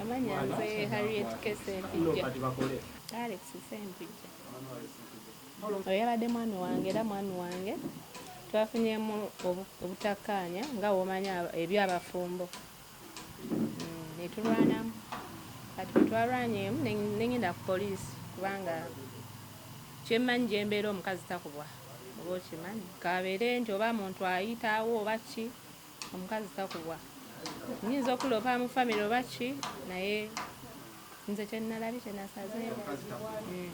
Amanya nze Harriet Kese Mpijja. Alex Sempijja. Oyo yabadde mwami wange era mwami wange twafunyemu obutakkaanya nga womanya ebyabafumbo mm, netulwanamu kati bwetwalwanyeemu nengenda ku poliisi kubanga kyemmanyi gyembeera omukazi takubwa oba okimanyi kabeere nti oba muntu ayitaawo oba ki omukazi takubwa nyinza okulopa mu famire oba ki naye nze kyenalabi kyenasaze hmm.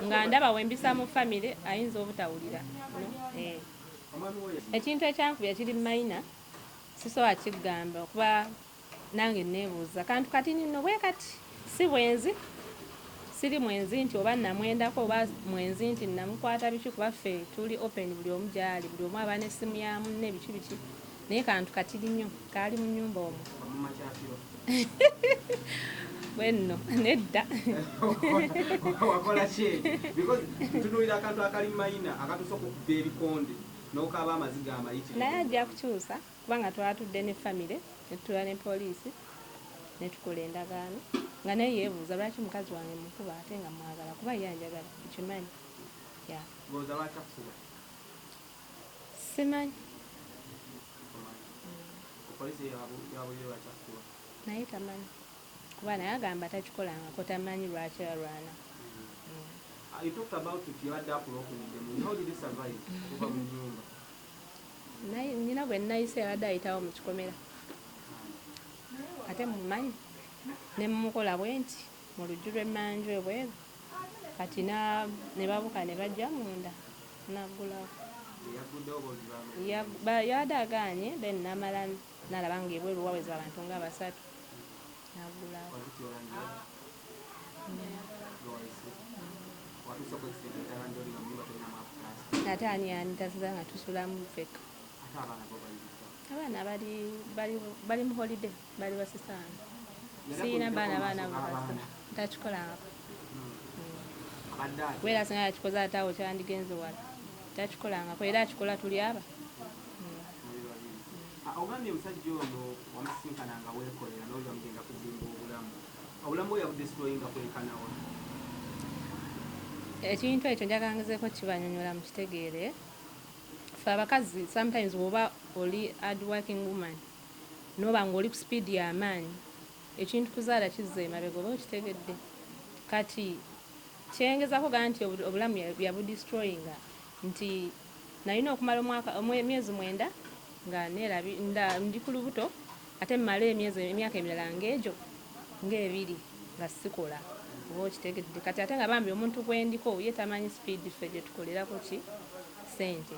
nga ndaba wembisa mu famire ayinza obutawulira eh. ekintu ekyankubya kiri mayina sisobola kigamba okuba Nange nneebuuza kantu kati ninno bwe kati. Si bwenzi, siri mwenzi nti oba nnamwendako oba mwenzi nti nnamukwata biki kuba ffe tuli open buli omu gy'ali, buli omu aba n'essimu ya munne biki biki naye kantu katiri nnyo kaali mu nnyumba omwo. bwe nno nedda wakola ki because ntunuulira akantu akali mayina akatuusa okukuba ebikonde n'okaaba amaziga amayitirivu naye ajja kukyusa kubanga twatudde ne famire ne tutuula ne poliisi ne tukola endagaano nga naye yeebuuza lwaki mukazi wange mukuba ate nga mwagala kuba ye anjagala nkimanyi simanyi naye tamanyi kuba naye agamba takikolangako tamanyi lwaki alwana mm. uh, You talked about it, you had that broken in the moon. How did you survive? nina gwe nayise abadde ayitawo mu kikomera ate mumanyi ne mumukola bwe nti mu lujju lw'emmanju ebweru kati ne babuka ne bajja munda naggulawo yabadde agaanye then namala Nalaba nga ebweru waweza abantu nga basatu nagulawo. Ate ani ani taziza nga tusulamu feka. Abaana bali bali bali mu holiday bali basisana. Siyina baana baana bakazi takikolangako. Wera singa yakikoze ate awo kyandigenze wala takikolangako era akikola tuli aba ogambye musajja ono wamusisinkana nga wekolera noga mugenda kuzimba obulamu obulamu oyabudestroyinga kwekanawa ekintu ekyo njagangezeeko kibanyonyola mukitegeere fe abakazi sometimes woba oli hard working woman noba nga oli ku speed yamaanyi ekintu kuzaala kizza emabega oba okitegedde kati kyengezako ga nti obulamu yabudestroyinga nti Nalina okumala omwaka emyezi mwenda nga nelabi nda ndi ku lubuto ate mmale emyezi emyaka emirala ng'egyo ng'ebiri nga sikola oba okitegedde kati ate nga bambi omuntu gwe ndiko ye tamanyi sipiidi ffe gye tukolerako ki ssente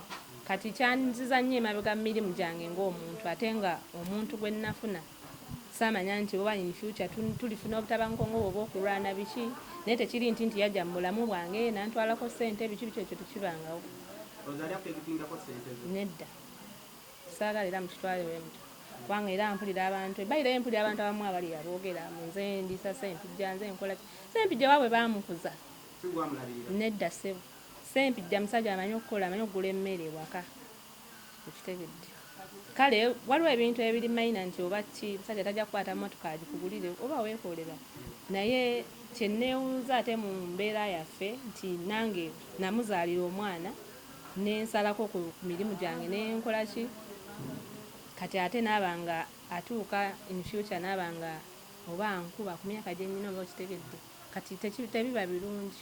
kati kyanziza nnyo emabega mu mirimu gyange ng'omuntu ate nga omuntu gwe nnafuna Saamanya nti oba in future tulifuna obutabanguko nga obwo obw'okulwana biki naye tekiri nti nti yajja mu bulamu bwange n'antwalako ssente biki biki ekyo tekibangawo. Rosalia akkegitingako ssente zo? Nedda. Saagala era mukitwale bwe mutyo kubanga era mpulira abantu e Baira ye mpulira abantu abamu abali aboogera mbu nze ndiisa Ssempijja nze nkola ki. Ssempijja waabwe baamukuza. Si ggwe amulabirira? Nedda ssebo. Ssempijja musajja amanyi okukola, amanyi okugula emmere ewaka. okitegedde kale waliwo ebintu ebiri mayina nti oba ki musajja tajja kukwata motoka agikugulire oba weekolera naye kyenneewuuza ate mu mbeera yaffe nti nange namuzaalira omwana nensalako ku mirimu gyange nenkola ki kati ate naaba nga atuuka in future naaba nga oba nkuba ku myaka gye nnyina oba okitegedde kati tebiba birungi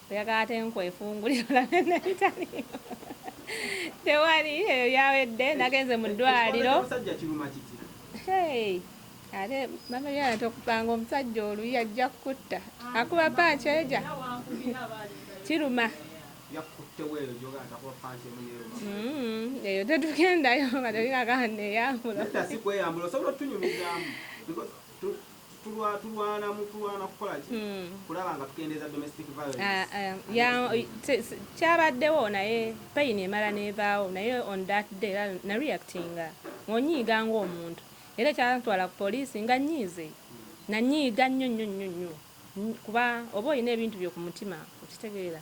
oyagala ate nkwefungulira olabe nebitaliyo tewali eyo yawedde nagenze mu ddwaliro ate mamalyana tokupanga omusajja oluyi ajja kukutta akuba panki eja kiruma mm-hmm. eyo tetugendayo nga telinagana neyambula tulwana mukulwana kukola ki hmm. kulaba nga tukendeeza domestic violence ah, ah, kyabaddewo naye pain emala nevaawo naye on that day na reactinga ngonyiiga ngaomuntu era ekyantwala ku poliisi nga nyiize nanyiiga nnyo nnyo nnyo nnyo kuba oba olina ebintu byo ku mutima okitegeera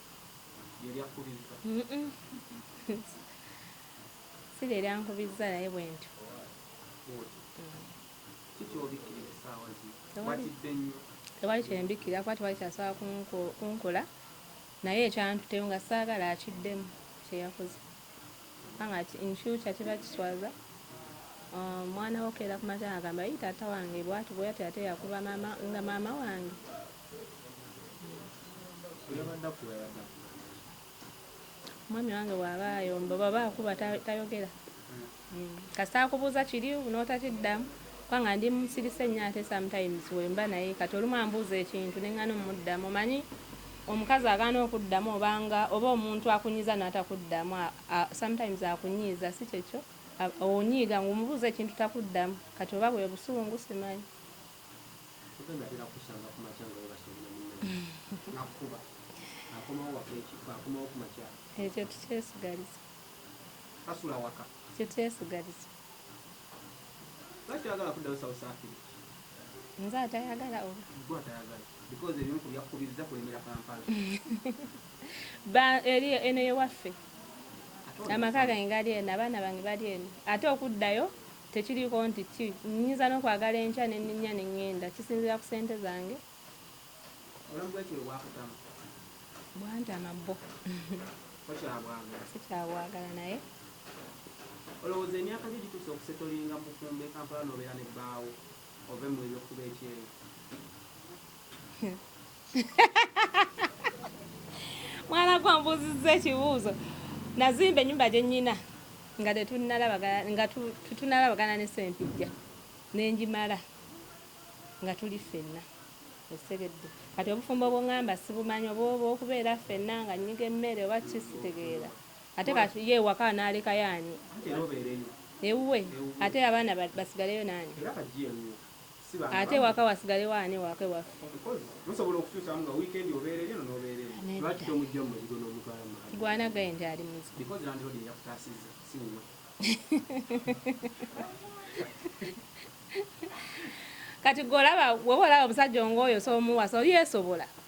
si lye lyankubizza naye bwe ntyo tewali kyembikkira kuba tewali kyasobola kunkola naye ekyantuteyo nga saagala akiddemu kyeyakoze kubanga infuture kiba kiswaza omwana um, wokeera ku matanga agamba yi taata wange bwati bweyati ate yakuba mama nga maama wange omwami wange bwaba ayomba baba akuba tayogera hmm. kasita akubuuza kiri notakiddamu kubanga ndi musirise nnyo ate sometimes wemba naye kati olumu ambuuza ekintu nengana omuddamu omanyi omukazi agaana okuddamu obanga oba omuntu akunyiza natakuddamu sometimes akunyiiza si kyekyo onyiiga ngaomubuuza ekintu takuddamu kati oba bwebusungu simanyi ekyo tukyesigaliza ekyo tukyesigaliza nze atayagala eri eno yewaffe amaka gange gali eno abaana bange bali eno ate okuddayo Tekiriiko nti ki, nnyinza n'okwagala enkya ne nninnya ne ŋŋenda. Kisinziira ku ssente zange. Obulamu bw'ekiro bwakutama? Bwantama bbo. Tokyabwagala? Sikyabwagala naye. Olowooza emyaka gyo gituuse okusetolinga mu bufumbo e Kampala n'obeera ne bbaawo? ove mu ebyo kuba ekyeyo mwana gwambuuzizza ekibuuzo nazimba enyumba gyenyina nga nga tutunalabagana ne sempijja nenjimala nga tuli ffenna esegedde kati obufumbo bwongamba sibumanyi oba oba okubeera ffenna nga nyiga emmere oba kisitegeera Ate kati ye ewaka anaalekayo ani? Ewuwe. Ate abaana basigaleyo n'ani? Ate ewaka wasigalewo ani ewaka ewaffe? Kigwana guy nti ali muzibu. Kati gwe olaba woba olaba omusajja ng'oyo soomuwasa oli yeesobola?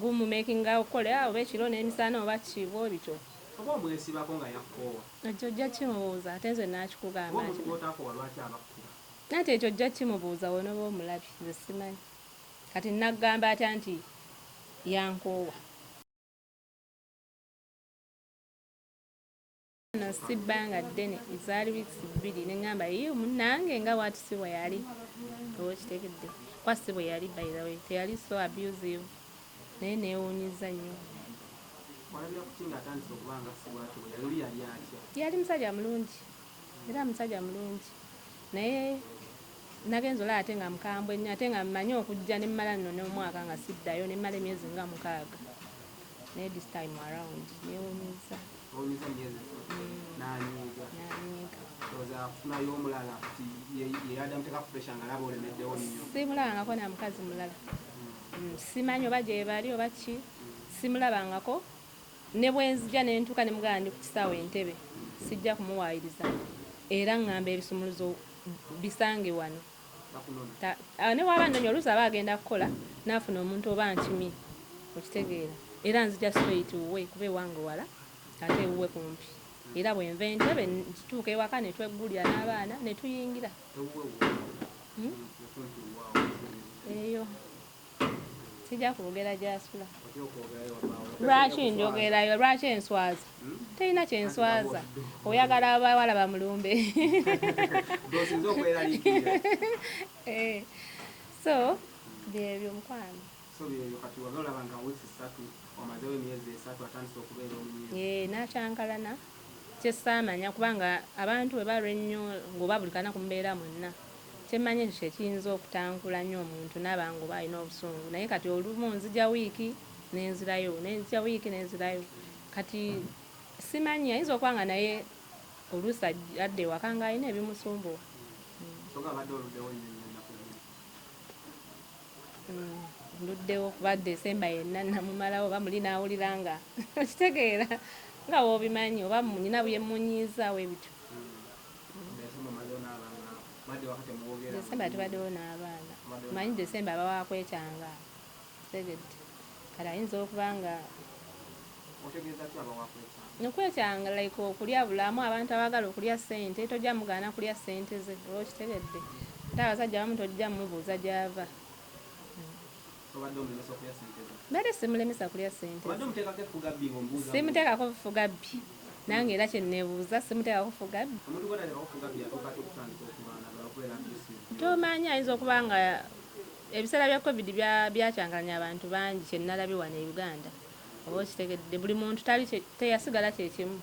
Gumu makinga okole ah, oba ekiro n'emisana oba ki bwe bityo. Oba omwesibako nga yakkoowa. Ekyo ojja kimubuuza ate nze nakikugamba. Oba omuntu gw'otakoowa lwaki abakkuba. Anti ekyo ojja kimubuuza w'onooba omulabye nze simanyi kati nnaggamba atya nti yankoowa. no si bbanga ddene ezaali weeks bbiri ne ŋŋamba yi munnange nga waati si bwe yali oba okitegedde kwa si bwe yali by the way teyali so abusive naye neewuunyizza nnyo yali musajja mulungi era musajja mulungi naye nagenza olaba ate nga mukambwe nnyo ate nga mmanyi okujja ne mmala nno n'omwaka nga siddayo ne mmala emyezi nga mukaaga naye this time around neewuunyizza olumiza myezi esatu nanyiiga oza kufunayo omulala kati yeyada muteka ku pressure nga laba olemeddewo nnyo simulabangako na mukazi mulala hmm. Hmm, simanyi oba gyebali oba ki simulabangako ne bwenzija nentuuka ne mugala ndi ku kisaawe entebe sijja kumuwaayiriza era ngamba ebisumuluzo bisange wano ah, ne waba nnonya oluusi aba agenda kukola naafuna omuntu oba nkimi okitegeera era nzija straight wuwe kuba ewange wala ate ewuwe kumpi era bwenva entebe nkituuka ewaka netweggulira n'abaana netuyingira hmm? eyo sijja kwogera gyasula lwaki njogerayo lwaki enswaza hmm? terina kyenswaza oyagala abawala bamulumbe eh, so byebyo mukwano eh, nakyankalana Kyesaamanya kuba nga abantu bwe balwa ennyo nga oba buli kanaku mubeera mwenna, kye mmanyi ekyo kye kiyinza okutankula nnyo omuntu n'aba nga oba alina obusungu naye kati olumu nzija wiiki ne nzirayo ne nzija wiiki ne nzirayo kati simanyi ayinza okuba nga naye oluusi ajj- adda ewaka ng'alina ebimusumbuwa. Kyogamba abadde oluddewo nnyo nnyo ennaku zino? nduddewo kuba desemba yenna namumalawo oba muli nawulira nga okitegeera nga wobimanyi oba nyina byemunyiizaawo ebityo desemba tubaddewo n'abaana manyi desemba abawakwekyanga tegedde kati ayinza okuba nga Otegeeza ki abawa kwetanga? Okwetanga like okulya bulamu abantu abagala okulya sente tojja mugaana kulya sente ze oba okitegedde ate abasajja abamu tojja mubuuza gyava mbadde simulemesa kulya sente simuteekako bufuga bbi nange era kyenebuuza simuteekako fuga bbi tomanya ayinza okuba nga ebiseera bya covid byakyangalanya abantu bangi kyenalabye wano e uganda oba okitegedde buli muntu tali teyasigala kyekimu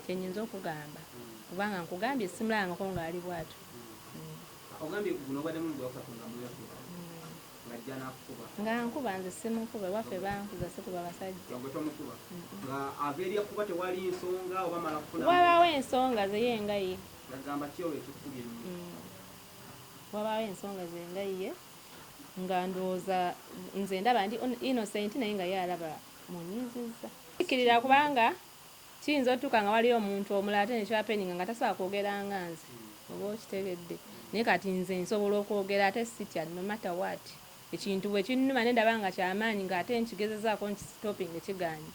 kyenyinza okugamba kubanga nkugambye simulabangako ngaali bwatyo nga nkuba nze simukuba ewaffe bankuza sikuba basajjawabaawo ensonga zeyengaye mm. wabaawo ensonga zengayiye nga ndowooza nze ndaba ndi innocent naye nga ye alaba munyiizizza kikkirira kubanga kiyinza otuuka nga waliyo omuntu omulala ate nekyapeninga nga tasobola kwogera nga nze oba okitegedde naye kati nze nsobola okwogera ate sitya no matter what ekintu bwe kinnuma ne ndaba nga kyamaanyi nga ate nkigezezaako nkisitopinga kiganye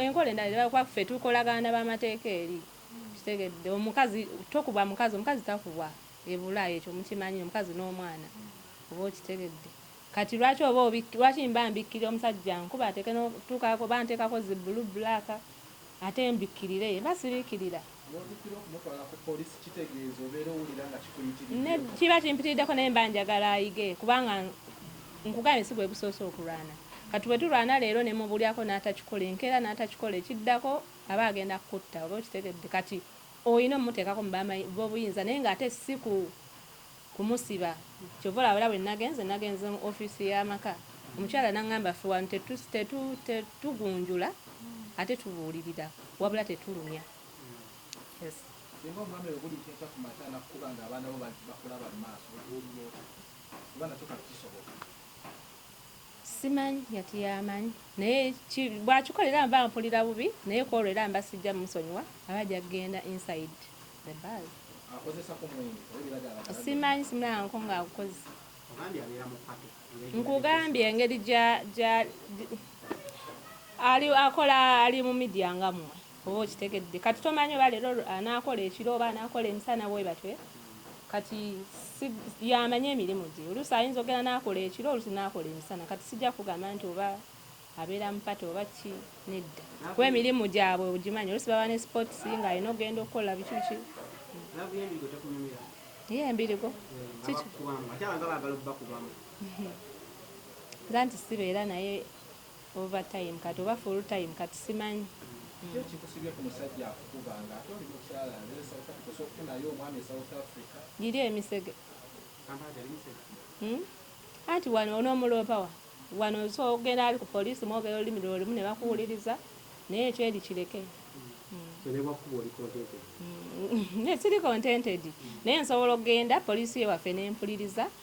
enkola endala kuba ffe tukolagana na bamateeka eri kitegedde omukazi tokuba mukazi omukazi takubwa ebula ekyo mukimanyi omukazi nomwana oba okitegedde Kati lwaki oba lwaki mba mbikkirira omusajja nkuba ateke notukaako oba ntekako zi blue black ate mbikkirire ye mba sibikkirira kiba kimpitiriddeko naye mba njagala ayige kubanga nkugambye si gwe gusoose okulwana kati bwe tulwana leero ne mubulyako n'atakikola enkeera n'atakikola ekiddako aba agenda kukutta oba okitegedde kati Olina omuteekako mu ba bobuyinza naye nga ate si ku kumusiba. Kyova olaba era bwe nagenze nagenze mu office ya maka omukyala nangamba ffe wano tetu tetu tetugunjula ate tubuulirira wabula tetulumya. Yes. Singa omwami bwe bulijjo enkya ku makya anakukuba nga abaana bo bakulaba mu maaso otuulira otya? Kuba nakyo kati kisoboka. Simanyi yati yamanyi naye bwakikola era mba mpulira bubi naye kwolwo era mba sijja musonyiwa aba ajja kugenda inside the bag simanyi simulanko nga agukoze nkugambye engeri ali akola ali mu midia nga mmwe oba okitegedde kati tomanyi oba leero anaakola ekiro oba anaakola emisana bwebatwe kati yamanyi emirimu gye oluusi ayinza ogenda n'akola ekiro oluusi n'akola emisana kati sijja kugamba nti oba abeera mupata oba ki nedda kuba emirimu gyabwe ogimanyi oluusi baba ne sports nga alina okugenda okukola biki biki ye embirigo nza nti sibeera naye Over time kati oba full time kati simanyi. Kiki ekikusibye ku musajja akukuba nga ate oli mukyala nze e South Africa osobola okufunayo omwami e South Africa. Giri emisege uhmm anti wano onomuloopa wa wano osobola okugenda ali ku police mwogera olulimi lwe lumu nebakuwuliriza naye ekyo eri kireke uhmm siri contented naye nsobola okugenda police ye waffe nempuliriza.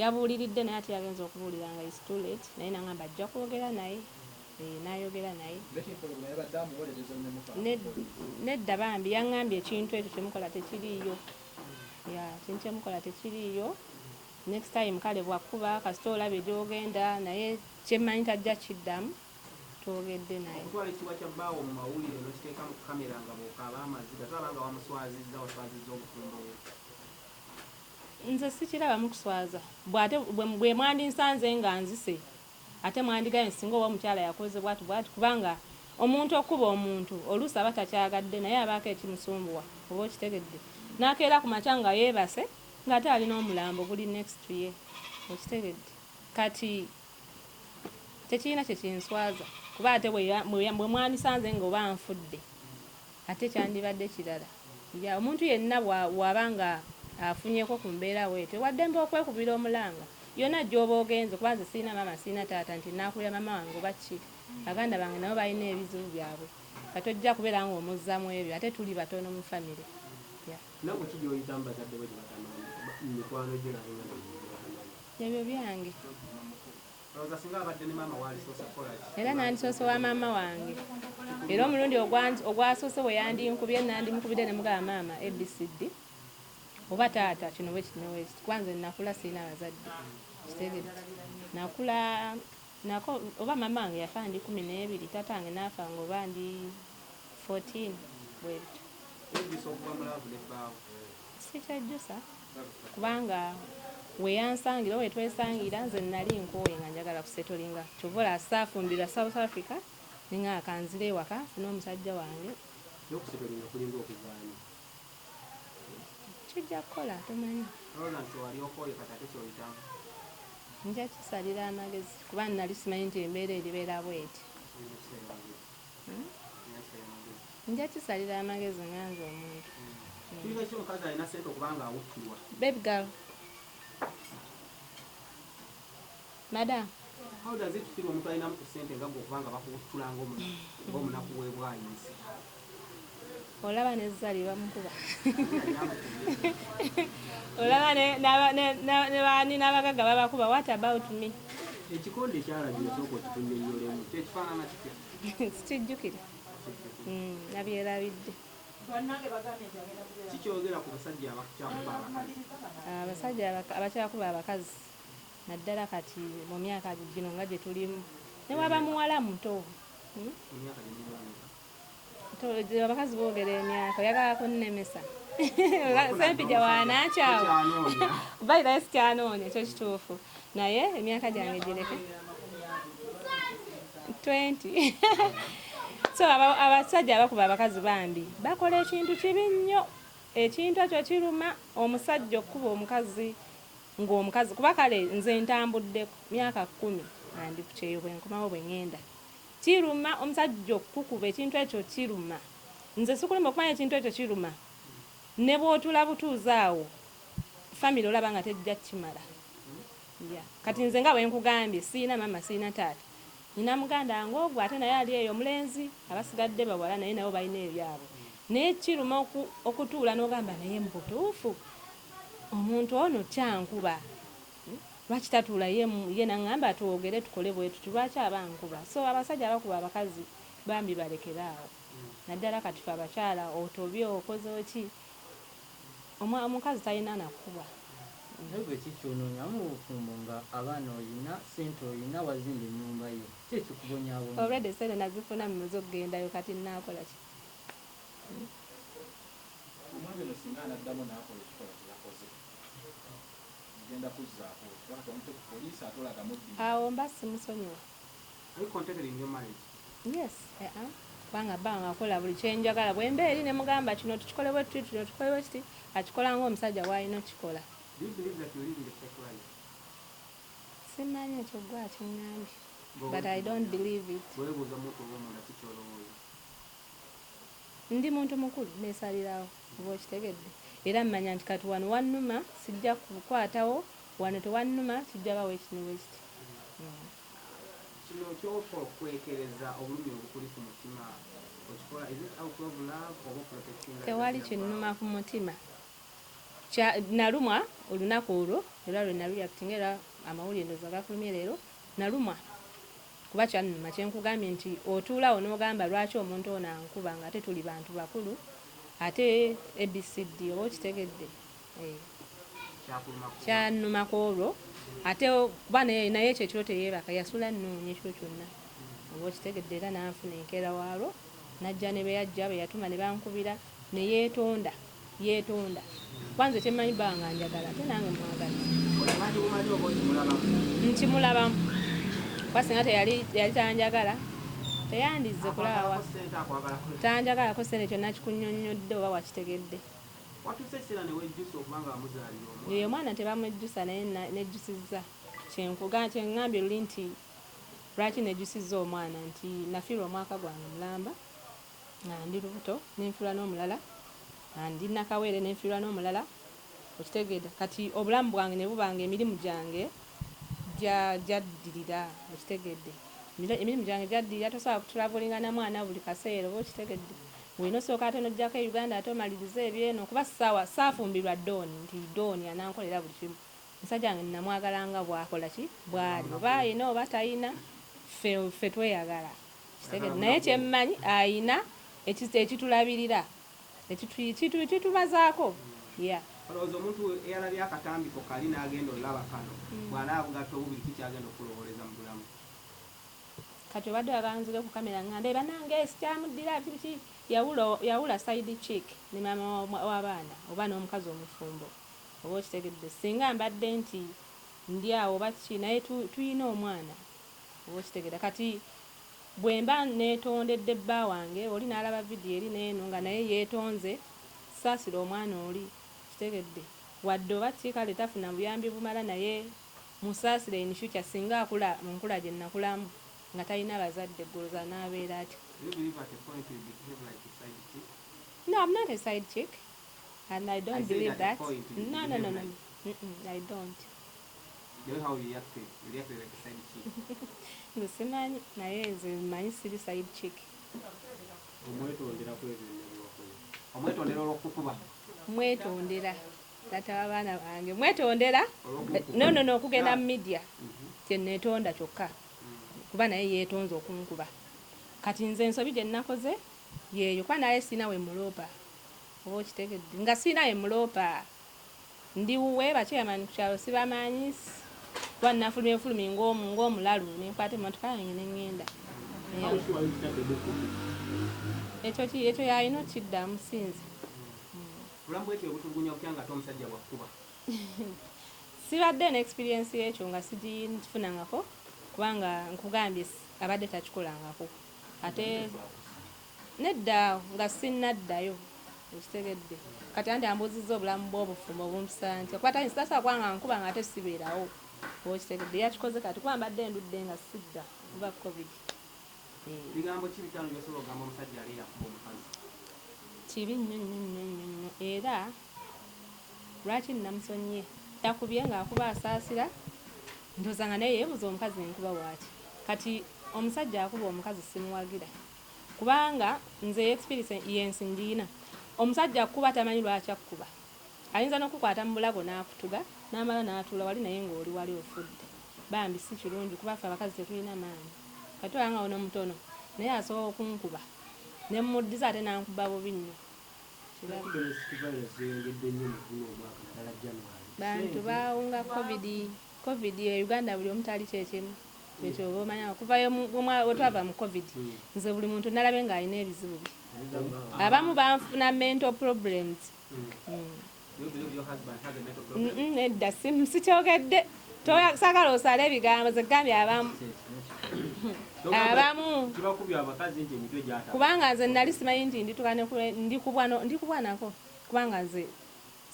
Yabuuliridde naye ate yagenze okubuulira nga it's too late naye nangamba ajja kwogera naye eeh nayogera naye Ned, nedda bambi yangambye ekintu ekyo kyemukola tekiriiyo yeah, ekintu kyemukola tekiriiyo next time kale bwakuba kasita olabye gyogenda naye kyemmanyi tajja kiddamu twogedde naye okutwala ekitiibwa kya bbaawo mu mawulire nokiteeka mu kamera nga bwokaaba amaziga tolaba nga wamuswazizza waswazizza obufumbo bwe Nze sikirabamu kuswaza bwe ate bwemwandinsanze nga nzise ate mwandigambye singa oba omukyala yakoze bwati bwati kubanga omuntu okukuba omuntu oluusi aba takyagadde naye abaako ekimusumbuwa oba okitegedde nakeera ku makya nga yebase nga ate alina omulambo guli next to ye okitegedde kati tekirina kye kinswaza kuba ate bwe mwandisanze nga oba nfudde ate kyandibadde kirala. Ya omuntu yenna bw'aba nga afunyeko ku mbeera bw'etyo wa ddembe okwekubira omulanga yonna gy'oba ogenze kuba nze sirina maama sirina taata nti naakulira maama wange oba ki. Baganda bange nabo balina ebizibu byabwe nga tojja kubeera ng'omuzza mu ebyo ate tuli batono mu famire. Ya. Naawe ki gy'oyitamu bazadde bo gye batamanyi mikwano gyo n'ab'enganda gye batamanyi? Ebyo byange. Era nandisoose wa maama wange era omulundi ogwasoose bwe yandinkubye nandimukubidde ne mugaba maama abcd oba taata kino bwekiti newekiti kuba nze nakula sirina bazadde kitegedde nakula nako oba maama wange yafa ndi kumi n'ebiri taata wange naafa nga oba ndi 14 bwebityo sikyajjusa kubanga weyansangila oba wetwesangila nze nali nkoye nga njagala kusetolinga kyova olaba saafumbirwa south africa ninga nga kanzira ewaka fune omusajja wange kijja kukola tomanyi nja kisalira amagezi kuba nali simanyi nti embeera eribeera bweti nja kisalira amagezi nga nze omuntu baby girl madam how does it feel omuntu alinamu ku sente nga gwe okubanga bakuwuttulanga omunaku webwayinsi olaba ne zali bamukuba olaba nebani n'abagagga babakuba what about me ekikonde kyalabira sooka okitunyonyolemu kyekifaanana kitya sikijjukira hmm, nabyerabidde kikyogera ku basajja abakyakuba abakazi abasajja abakyakuba abakazi naddala kati mu myaka gino nga gye tulimu ne waba muwala muto hmm? abakazi boogera emyaka oyagala kunnemesa sempija wanakyawo balirayo sikyanoonya ekyo kituufu naye emyaka gyange gireke 20 so abasajja abakuba abakazi bambi bakola ekintu kibi nnyo ekintu ekyo kiruma omusajja okukuba omukazi ng'omukazi kuba kale nze ntambuddeko myaka kkumi andi ku kyeyo bwenkomawo bwe ŋŋenda Kiruma omusajja okukukuba ekintu ekyo kiruma nze sikulema okumanya ekintu ekyo kiruma nebwotula butuuzi awo family olaba nga tejja kimala yeah. Kati nze nga bwenkugambye siyina mama siyina taata nina muganda wange ogwo ate naye ali eyo omulenzi abasigadde bawala naye nabo balina ebyabwe naye kiruma oku, okutuula nogamba naye mubutuufu omuntu ono kyankuba Lwaki tatuula ye ye nangamba twogere tukole bwetuti lwaki aba ankuba so abasajja abakuba abakazi bambi balekere awo naddala kati fe abakyala otobye okoze ki omukazi talina nakukubwa. Naye gwe ki kyononya mubufumbo nga abaana oyina, sente oyina, wazimba enyumba yo ki ekikubonyabonya. Already sente nazifuna mmaze okugendayo kati nakolaki. Omwami ono singa anaddamu nakola ekikola kyeyakoze. awo mba simusonyiwa yes eh, eh. kubanga bba wange akola buli kyenjagala bwemba eri nemugamba kino tukikole bwe tuti kino tukole bwe kiti akikola ngaomusajja bwalina okukikola simanyi ekyo gwe akiŋŋambye but i don't believe it ndi muntu mukulu nesalirawo Oba okitegedde? Era manya nti kati wano wannuma, sijja kukwatawo, wano tewannuma, kijja ba wekiti ne wekiti. Kino kyofa okwekereza obulumi obukuli ku mutima okikola is it out of love oba oprotectinga legacy ya Tewali kinnuma ku mutima. Kya, nalumwa olunaku olwo era lwe nalu reactinga era amawulire ndowooza gakulumye leero, nalumwa. Kuba kyannuma kyenkugambye nti otuula awo nogamba lwaki omuntu ono ankuba nga ate tuli bantu bakulu ate ABCD oba okitegedde eeh kyannuma kwolwo ate kuba naye ekyo ekiro teyebaka yasula annoonya ekiro kyonna oba okitegedde era nanfuna enkeera waalwo najja nebeyajja beyatuma nebankubira neyetonda Yetonda kuba nze kyemanyi bba wange anjagala ate nange mwagala. Nkimulabamu kuba singa teyali tanjagala teyandizze kulaawa tanjagalako sente kyonna kikunyonnyodde oba wakitegedde ye omwana tebamwejjusa naye nejjusizza kyeŋŋambye luli nti lwaki nejjusizza omwana nti nafiirwa omwaka gwange mulamba nga ndi lubuto nenfiirwa n'omulala nga ndi nakaweere nenfiirwa n'omulala okitegeeda kati obulamu bwange ne buba nga emirimu gyange gya gyaddirira okitegeedde emirimu gyange gyaddirira tosobola kutulavulinga na mwana buli kaseera oba okitegedde olina osooka ate n'ojjako e Uganda ate omalirize ebyeno kuba ssaawa saafumbirwa dooni nti dooni anankolera buli kimu omusajja wange nnamwagala nga bwakola ki bwali oba ayina oba tayina ffe ffe tweyagala. Kitegedde naye kyemmanyi ayina ekizito ekitulabirira ekitubazaako ya. Olowooza omuntu eyalabye akatambi ko kali n'agenda olaba kano hmm. bw'anaaba bugatta obubiri ki ky'agenda okukulowooleza mu bulamu? Kati obadde wabanzire ku kamera ng'ambe banange sikyamuddira biki yawula side chick ne maama w'abaana oba n'omukazi omufumbo oba okitegedde singa mbadde nti ndi awo oba ki naye tulina omwana Oba okitegera kati bwemba netondedde bba wange oli nalaba video eri neno nga naye yetonze sasira omwana oli kitegedde wadde oba ki kale tafuna buyambi bumala naye musasire in future singa akula munkula jenakulamu nga talina bazadde gwe oloza anabera atya no am not a side chick and I don't believe that no no no no I don't nze simanyi naye nze manyi siri side chick omwetondera olwokukuba mwetondera tata wabaana bange mwetondera nono nokugenda mu media kyenetonda kyokka kuba naye yetonze okunkuba kati nze ensobi gyenakoze yeyo kuba naye sirina wemuloopa oba okitegedde nga sirina wemuloopa Ndi wuwe bakyeyamanyi ku kyalo sibamanyi kuba nafulumye bufulumi ng'omulalu ne nkwata emmotoka yange ne ŋŋenda. Ekyo ekyo yalina okukiddamu si nze. Bulamu bw'etyo obutulugunya butya ng'ate omusajja bw'akukuba? Sibadde na experience y'ekyo nga sigifunangako kubanga nkugambye abadde takikolangako ate Nedda awo nga sinnaddayo. Okitegedde? Kati anti ambuuzizza obulamu bw'obufumbo obumpisa ntya kuba tayinza tasobola kuba ng'ankuba ng'ate sibeerawo. Oba okitegedde? Yakikoze kati kuba mbadde ndudde nga sidda kuva Covid. Bigambo ki bitaano by'osobola okugamba omusajja ali eyakuba omukazi? Kibi nnyo nnyo nnyo nnyo nnyo era lwaki nnamusonyiye? Yakubye ng'akuba asaasira ndowooza nga naye yeebuuza omukazi ne nkuba waaki? Kati omusajja akuba omukazi simuwagira. Kubanga nze experience yensi njiyina omusajja akukuba tamanyi lwaki akukuba ayinza nokukwata mubulago nakutuga namala natuula wali naye nga oli wali ofudde bambi sikirungi kuba ffe abakazi tetuyina maanyi kati olaba nga ono mutono naye asobola okunkuba nemuddiza ate nankuba bubi nnyo kirabye. Bantu bawunga covid. Covid e Uganda buli omu taali kyekimu ekyo oba omanya okuva wetwava mu covid hmm. nze buli muntu nalabe nga alina ebizibu bye hmm. abamu banfuna mental problems hmm. edda sikyogedde sagala osala ebigambo zegambye abamu abamu kubanga nze nali simanyi nti nditukane ndikubwanako kubanga nze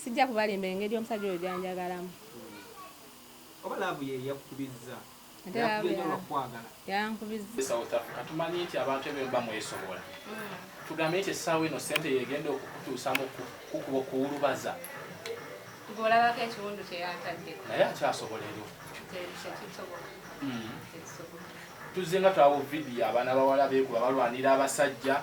Sijja kubalimba engeri omusajja oyo gyanjagalamu. Oba laavu ye yakukubizza? Ate laavu yakwagala. Yankubizza. E South Africa tumanyi nti abantu ebyo muba mwesobola. Tugambye nti essaawa eno ssente yegenda okukutuusamu kukuba okuwulubaza. Gwe olabako ekiwundu kye yantaddeko. Naye akyasobola ebyo. Tekisoboka. Tekisoboka. tuzze nga twawo vidiyo abaana bawala beekuba balwanira abasajja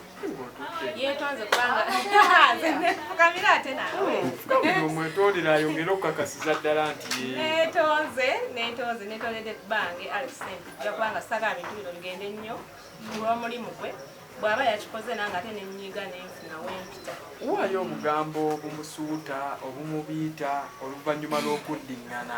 yetonze kubanga fukamira ate nawe omwetondera ayongere okukakasiza ddala nti netonze netonze netondedde bange alexent ja kubanga saga bintu bino bigende nnyo kulwomulimu gwe bwaba yakikoze nange ate nenyiga nenfuna wempita waayo obugambo obumusuuta obumubiita oluvannyuma lw'okuddiŋŋana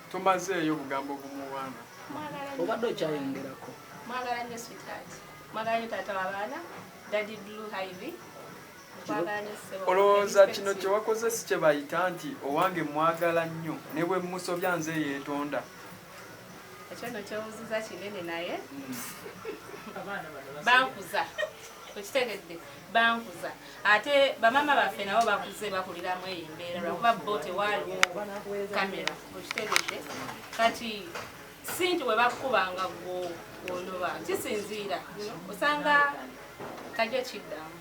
Tomazeeyo bugambo bumuwaana. Obadde okyayongerako. Mwagala nyo sweetheart. Mwagala nyo tata wabaana. Daddy Blue Ivy. olowooza kino kyewakoze si kyebayita nti owange mwagala nnyo ne bwe musobya nze yeetonda ekyo no kyebuziza kinene naye bankuza okitegedde bankuza ate bamama baffe nabo bakuze bakuliramu eyo embeera lwakuba bo tewaaliwo kamera okitegedde kati sinti webakukubanga gwo onoba kisinziira osanga tajja kiddamu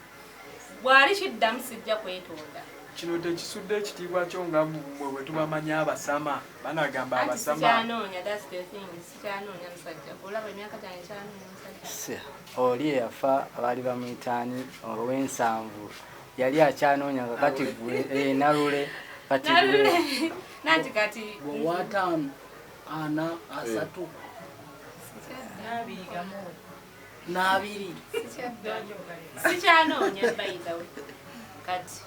bwali kiddamu sijja kwetonda kino tekisudde ekitiibwa kyo nga mwe bwetubamanyi abasama banagamba abasama Oli eyafa baali bamuyita ani? Ow'ensanvu yali akyanoonya nga kati gwe eh, Nalule kati gwe nanti kati wataano ana asatu n'abiri sikyanoonya bayidawe kati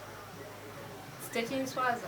sitekinswaza